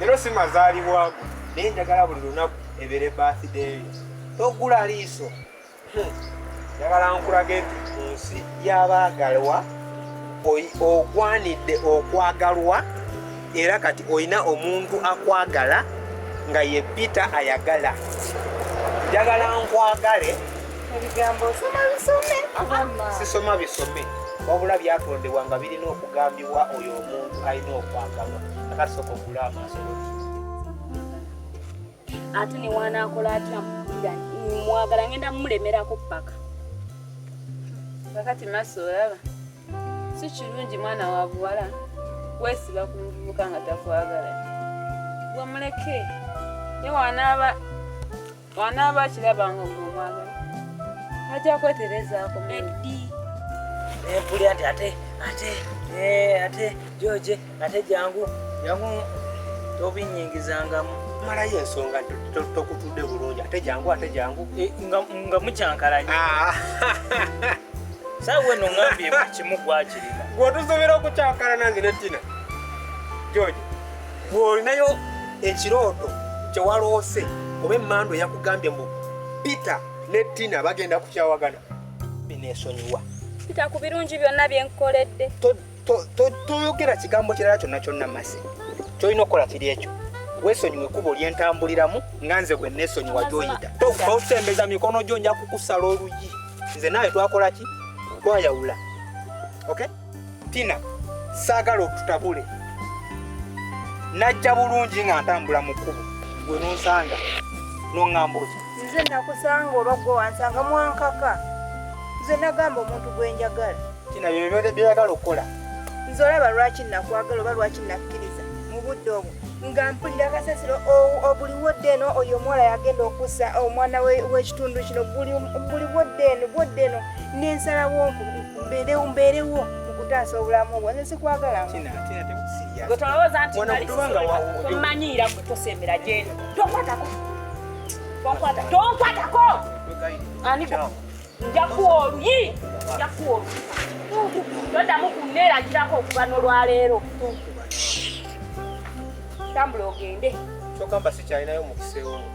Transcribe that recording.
lero si mazaalibwago naye njagala buli lunaku ebeere baathideeyo togula liiso hmm. njagala nkulage nti mu nsi y'abaagalwa ogwanidde okwagalwa era kati olina omuntu akwagala nga ye pita ayagala njagala nkwagale ebigambo osoma bisome sisoma bisome wabula byatondebwa nga birina okugambibwa oyo omuntu alina okwagalwa akasoka okugula amaaso ate newanakola atya mwagala ngenda mumulemerako paka kakati maso olaba si kirungi mwana wa buwala wesiba ku muvubuka nga takwagala wamuleke newanaaba bw'anaaba akiraba nga gwe omwagala ajja kweterezaako eddi empulira nti ate ate eh, ate george ate jangu jangu tobinyingizangamu malayo ensonga tokutudde bulungi ate jangu ate jangu eh, nga mukyankalanya ah. saawa weno ngambye buli kimu gwakirina gwotusobola okukyankalana nze ne tina george bw'olinayo ekirooto kyewaloose oba emmandu eyakugambye mbu peter ne tina bagenda kukyawagana bineesonyiwa peter ku birungi byonna byenkukoledde toyogera kigambo kirala kyonna kyonna masi kyolina okukola kiri ekyo wesonyiwe kubo lyentambuliramu nga nze bwe nesonyiwa gyoyita tosembeza mikono gyo nja kukusala oluyi nze naawe twakola ki twayawula okay Tina saagala otutabule najja bulungi nga ntambula mu kkubo gwe nonsanga noŋŋamba oti nze nakusanga oba gwe wansanga mwankaka nze nagamba omuntu gwe njagala tina byebyagala okukola nze olaba lwaki nakwagala oba lwaki nakkiriza mu budde obwo nga mpulira kasasiro obuli wodde eno oyo omuwala yagenda okusa omwana w'ekitundu kino buli wodde eno bwodde eno nensalawo mbeerewo mbeerewo okutaasa obulamu bwo nze sikwagalanggwe tolowooza nti mmanyiira gwe tosembera gyeno tonkwatako tonkwatako ani njakuwa oluyi njakuwa oluyi todamu kunneeragirako okuva nolwaleero tambula ogende kyokamba sikyalinayo mukisa ewomu